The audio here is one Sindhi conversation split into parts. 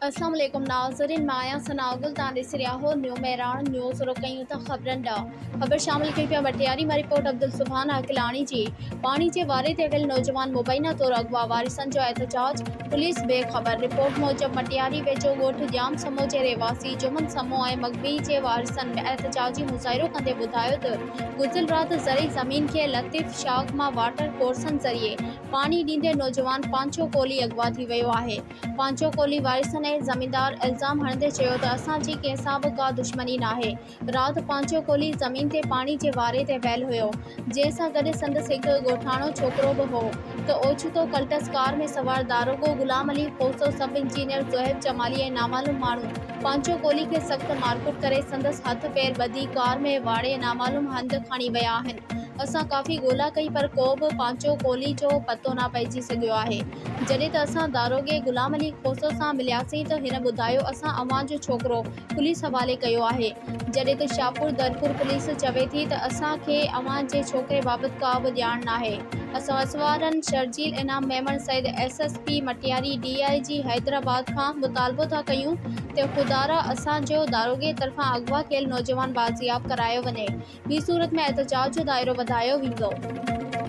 اسلام عليڪم ناظرين مان آهيان ثناء گل توهان ڏسي رهيا آهو نيو مهراڻ نيوز رخ ڪيون ٿا خبرن ڏانهن خبر شامل ڪئي پيا وٽياري مان رپورٽ عبدالسبحان عاقلاڻي جي پاڻي جي واري تي ويل نوجوان مبينا طور اغوا وارثن جو احتجاج پوليس بي خبر رپورٽ موجب مٽياري ويجهو ڳوٺ ڄام سمو جي رهواسي جمن سمو ۽ مغوي جي وارثن احتجاجي مظاهرو ڪندي ٻڌايو ته گذريل رات زرعي زمين کي لطيف شاخ مان واٽر ڪورسن ذريعي پاڻي ڏيندي نوجوان پانچو ڪولهي اغوا ٿي ويو آهي پانچو ڪولهي وارثن ۽ زميندار الزام هڻندي چيو ته اسان جي ڪنهن سان به ڪا دشمني ناهي، رات پانچو ڪولهي زمين تي پاڻي جي واري تي ويل هيو، جنهن سان گڏ سندس هڪ ڳوٺاڻو ڇوڪرو به هو ته اوچتو ڪلٽس ڪار ۾ سوار داروغو غلام علي کوسو، سب انجنيئر زوهيب جمالي ۽ نامعلوم ماڻهو پانچو ڪولهي کي سخت مارڪٽ ڪري سندس هٿ پير ٻڌي ڪار ۾ واڙي نامعلوم هنڌ کڻي ويا آهن، اسان ڪافي ڳولا ڪئي پر ڪو به پانچو ڪولهي جو پتو نه پئجي سگهيو آهي. جڏهن ته اسان داروغي غلام علي کوسو سان ملياسين ته هن ٻڌايو اسان اوهان جو ڇوڪرو پوليس حوالي ڪيو آهي جڏهن ته شاهپور درپور پوليس چوي ٿي ته اسان کي اوهان جي ڇوڪري بابت ڪا به ڄاڻ ناهي اسان اس وارن Sharjeel Inam Memon Syed S S P Matiari D I G Hyderabad کان مطالبو ٿا ڪيون ته خدارا اسان جو داروغي طرفان اغوا ٿيل نوجوان بازياب ڪرايو وڃي ٻي صورت ۾ احتجاج جو دائرو وڌايو ويندو.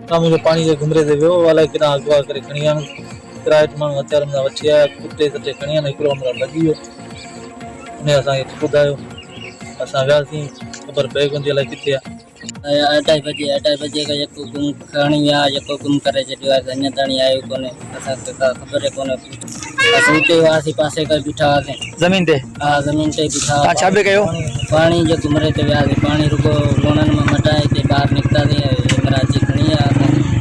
شام جو پاڻي جي گهمري تي ويو، الائي ڪيڏانهن اغوا ڪري کڻي ويا آهن، ڪرائٽ ماڻهو هٿيارن سان وٺي آيا، ڪٽي سٽي کڻي ويا آهن، هڪڙو همراهه ڀڄي ويو، انهيء اسان کي ٻڌايو، اسان وياسين، خبر پئي ڪونه ٿي الائي ڪٿي آهي. اڍائي بجي اڍائي بجي کان يڪ گم ٿي. ڌڻي آ جيڪو گم ڪري ڇڏيو آهي سو اڃان تائين آيو ڪونهي اسان کي ڪا خبر ئي ڪونهي اسين اتي هئاسين پاسي ڪري بيٺا هئاسين زمين تي ها زمين تي بيٺا هئاسين تان ڇا پي ڪيو پاڻي جي گمري تي وياسين پاڻي رڳو لوڻن مان مٽائي تي ٻاهر نڪتاسين هي مراد جي کڻي آيا اسان کي